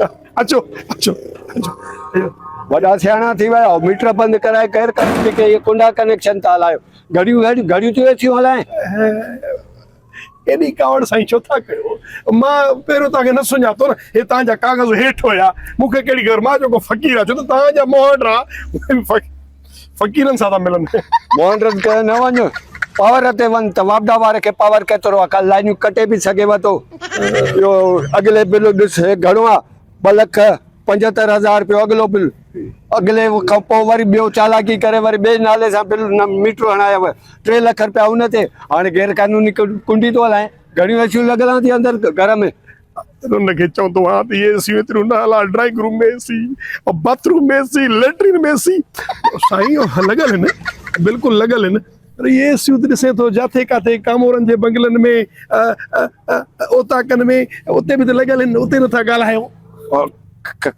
اچو اچو اچو وڏا سياڻا ٿي ويا ميٽر بند ڪرائي ڪير ڪري ڪي ڪنڊا ڪنيڪشن ٿا هلايو گھڙيون گھڙيون گھڙيون ٿيون ايسيون هلائين ايڏي ڪاوڙ سائين ڇو ٿا ڪيو مان پهريون توهان کي نه سڃاتو نه هي توهان جا ڪاغذ هيٺ هيا مون کي ڪهڙي خبر مان جيڪو فقير آهيان ڇو ته توهان جا مهاٽ رها فقيرن سان ٿا ملن. مون رت ڪيو نه وڃ پاور تي وڃ ته واپڊا واري کي پاور ڪيترو آ ڪا لائنيون ڪٽي به سگهيو ٿو اهو اڳلي بل ڏس هي گهڻو آ ٻه لک پنجهتر هزار رپيو اڳلو بل اڳلي کان پو وري ٻيو چالاڪي ڪري وري ٻئي نالي سان بل ميٽر هڻايا هئا ٽي لک رپيا ان تي هاڻي غير قانوني ڪنڊي ٿو هلائين گهڻيون ايسيون لڳل آ ٿي اندر گهر ۾ ان کي چون تو هان ته اهي ايسيون ايتريون نه هلا ڊرائنگ روم ۾ ايسي او bathroom ۾ AC latrine ۾ AC سائين او لڳل هن بلڪل لڳل هن پر اهي ايسيون ته ڏسين ٿو جاٿي ڪاٿي ڪامورن جي بنگلن ۾ اوطاقن ۾ اتي به ته لڳل هن اتي نٿا ڳالهايو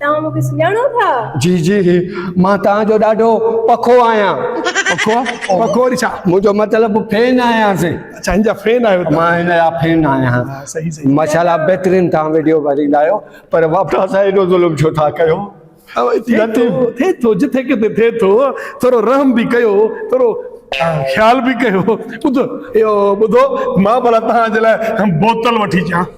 توهان مون کي سڃاڻو ٿا؟ جي جي جي مان توهان جو ڏاڍو پکو آهيان. پکو؟ پکو وري ڇا؟ منهنجو مطلب فين آهيان سائين. اڇا هن جا فين آهيو توهان. مان هن جا فين آهيان. صحيح صحيح. ماشاءالله بهترين توهان وڊيو ڀريندا آهيو پر وابرا سائين ايڏو ظلم ڇو ٿا ڪيو. لطيف ٿئي ٿو جتي ڪٿي ٿئي ٿو ٿورو رحم به ڪيو ٿورو خيال به ڪيو. ٻڌو اهو ٻڌو مان ڀلا توهان جي لاء بوتل وٺي اچان.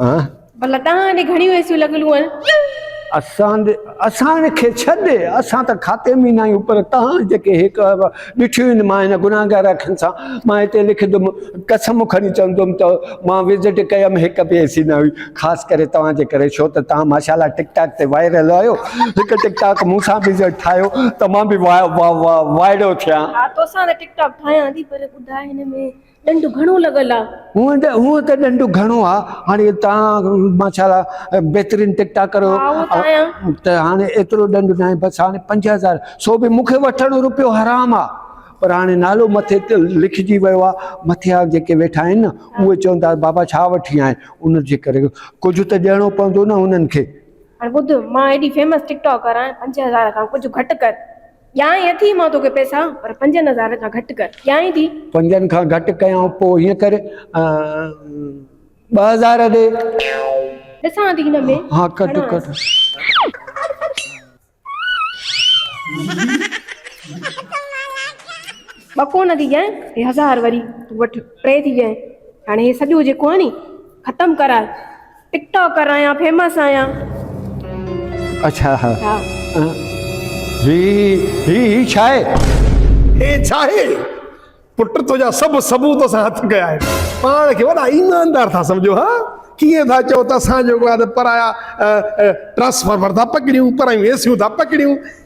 ها. ڀلا توهان ڏي گهڻيون ايسيون لڳل هئن. اسان ڏي، اسان کي ڇڏ، اسان ته کاتي ۾ ئي ناهيون، پر توهان جيڪي هيڪ هئا، ڏٺيون هن مان هن گناهگار اکين سان، مان هتي لکندم، قسم کڻي چوندم ته مان وزٽ ڪيم هڪ به ايسي نه هئي، خاص ڪري توهان جي ڪري، ڇو ته توهان ماشاءالله ٽڪ ٽاڪ تي وائرل آهيو، هڪ ٽڪ ٽاڪ مون سان به جي ٺاهيو ته مان به وائڙو ٿيان. ها توسان ته ٽڪ ٽاڪ ٺاهيان ٿي، پر ٻڌاء هن ۾ ڏنڊ گهڻو لڳل آ. هونء هونء ته ڏنڊ گهڻو آ هاڻي توهان ماشاءالله بهترين ٽڪ ٽاڪ ڪريو ها اهو ته آهيان. ته هاڻي ايترو ڏنڊ ناهي بس هاڻي پنج هزار سو به مون کي وٺڻ روپيو حرام آ پر هاڻي نالو مٿي تي لکجي ويو آ مٿيان جيڪي ويٺا آهن نه ها. اهي چوندا بابا ڇا وٺي آئين ان جي ڪري ڪجهه ته ڏيڻو پوندو نه هنن کي. هاڻي ٻڌ مان ايڏي فيمس ٽڪ ٽاڪر آهيان پنج هزار کان ڪجهه گهٽ ڪر. ڏيانء ٿي مان توکي پئسا، پر پنجن هزارن کان گهٽ ڪر ڏيانء ٿي. پنجن کان گهٽ ڪيائون، پوء هيئن ڪر ٻه هزار ڏي. ڏسان ٿي هن ۾ ٻه ڪونه ٿي ڄائين، هي هزار وري تون وٺ ٽي ٿي ڄائين. هاڻي هي سڄو جيڪو آهي ني ختم ڪراء. ٽڪ ٽاڪر آهيان فيمس آهيان. اڇا ها هي هي هي ڇا آهي. هي ڇا آهي پٽ تنهنجا سڀ ثبوت اسان هٿ ڪيا آهن پاڻ کي وڏا ايماندار ٿا سمجهو ها ڪيئن ٿا چئو ته اسان جيڪو آهي ته پرايا ٽرانسفارمر ٿا پڪڙيون پرايون ايسيون ٿا پڪڙيون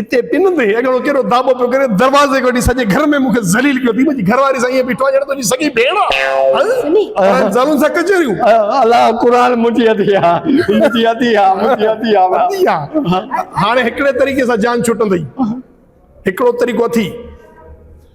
اتي پن تي اڳ اهو ڪهڙو داٻو پيو ڪري دروازي کي وٺي سڄي گهر ۾ مون کي ذليل ڪيو اٿئي منهنجي گهرواري سان ائين بيٺو آهي ڄڻ تنهنجي سڳي ڀيڻ آهي ها زالن سان ڪچهريون الا قرآن منهنجي هٿي آ منهنجي هٿي آ منهنجي هٿي آ هٿي آ هاڻي هڪڙي طريقي سان جان ڇٽندئي هڪڙو طريقو اٿي